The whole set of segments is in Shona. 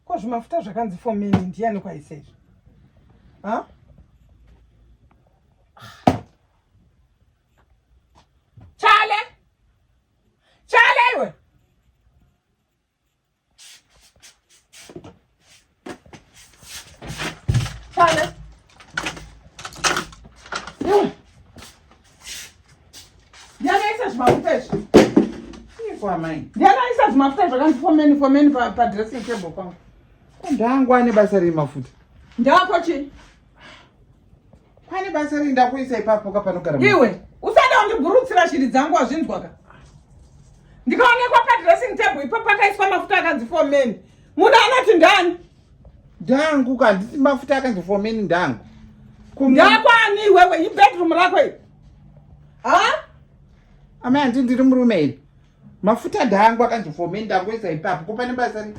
Ko zvimafuta zvakanzi for mini ndiyani kwaisa izvi? Ha? Chale! Chale iwe! Chale! Iwe! ndiani aisa zvimafuta izvi ndiani aisa zvimafuta zvakanzi fomeni fomeni padressing table pangu ndangu ane basa remafuta ndako chii pane basa rei ndakuisa ipapo ka panogara iwe usada undiburutsira shiri dzangu wazvinzwa ka ndikaonekwa padressing table ipo pakaiswa mafuta akanzi for men munhu anoti ndani Ndangu ka handisi mafuta akanzi for men ndangu. Ndakwani wewe ibedroom rako iri. Ha? Amai hanti ndiri murume ini. Mafuta ndangu akanzi for men ndangoisa ipapo ko pane basa rei.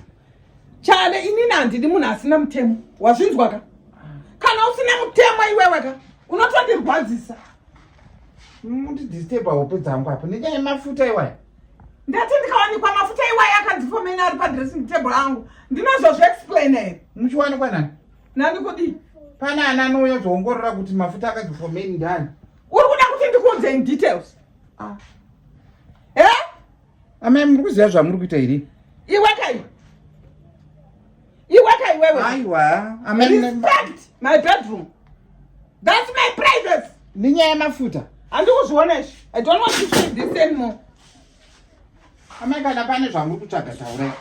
Chale inini handidi munhu asina mutemo. Wazvinzwa ka? Kana usina mutemo iwewe ka unotondirwadzisa. Mundidisturba hope dzangu apo nenyaya yemafuta iwaya. ndati ndikawanikwa mafuta iwaye akadzifomena ari padressing table angu ndinozozviexplain here muchiwanikwa nani nani kudii pane ana anouya zoongorora kuti mafuta akadzifomeni ndani uri kuda kuti ndikuudze in details ah. e eh? amai muri kuziva zvamuri kuita here iwe kaiwe iweka iwewe aiwa respect my bedroom that's my privacy ninyaya yemafuta handikuzviona izvi i don't want to feel this anymore amai kana pane zvamuri kutsvaga taurai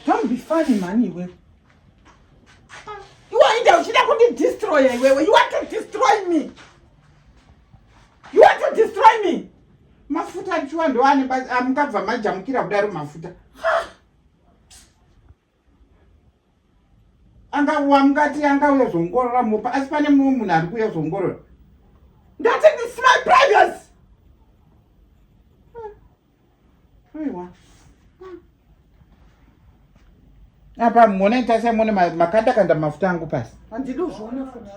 don't be funny mani iwewe iwe inde uchida kundidestroya iwewe you want to destroy me you want to destroy me mafuta achiwa ndoane amukabva majamukira kudaro mafuta angauwa mukati angauya zvongorora mopa asi pane mumwe munhu ari kuuya zvongorora ndati this my privacy aiwa apa mone tasiyamone makanda kanda mafuta angu pasi